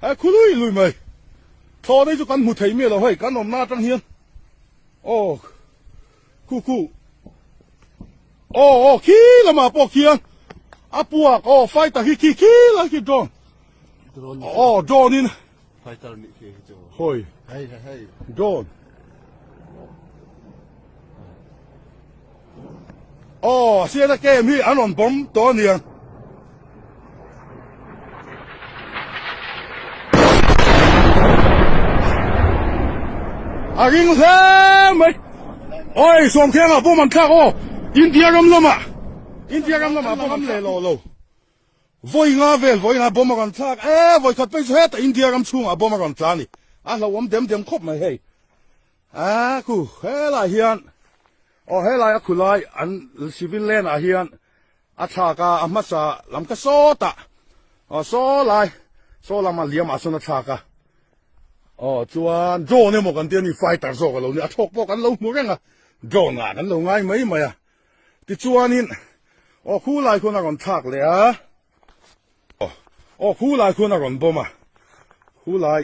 He khului lui mai. Tho dei chu kan hmu thei me lo hei kan om na tang hian. Oh. Ku ku. Oh oh khi lama po khiang. Apuak oh fighter hi khi khi la khi drone. Oh drone in. Fighter ni khi chu. Hoi. Hey hey. Drone. Aw, siana kem hi an on bom to nian. A ring hle mai. Oi, som keng a bom an thlak o. India ram lama. India ram lama bom an le lo lo. Voi nga vel voi nga bom a ran thlak. E, voi khat pe se ta India ram chung a bom a ran tla ni. A hlawam dem dem khop mai hei. a ku he lai hian o he lai a khu lai an civil len ah hian a tha ka a hma sa lam ka so ta o so lai so lam a liam a sun a tha ka o chuan John ne mo kan tia ni fighter zo ka lo ni a thok po kan lo mu renga John a kan lo ngai mai mai a ti chuan in o khu lai khun a ron thak le a o khu lai khun a ron boma khu lai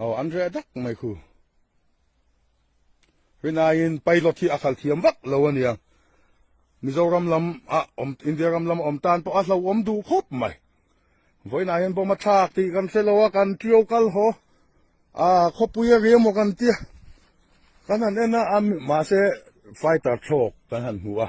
Aw an re dak mai khu. Hinain pilot hi a khal thiam vak lo aniang. Mizoram lam a om India ram lam om tan pawh a hlo om du khop mai. Voina hian bom a thlak ti kan se loa kan tio kal ho. A khopui a riam kan tia. Kan han ena am ma se fighter thlok kan han hmu a.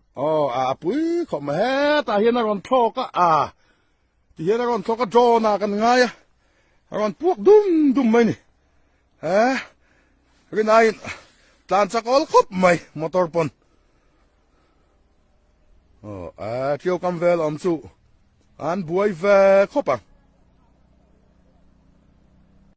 Oh, a pui kho ma he ta hian a ron thlok a a ti hian a ron thlok a John a kan ngai a ron puak dum dum mai ni eh rin ai tlan chakol khop mai motor pon oh a thiêu cam vel om chu an buai ve khop ang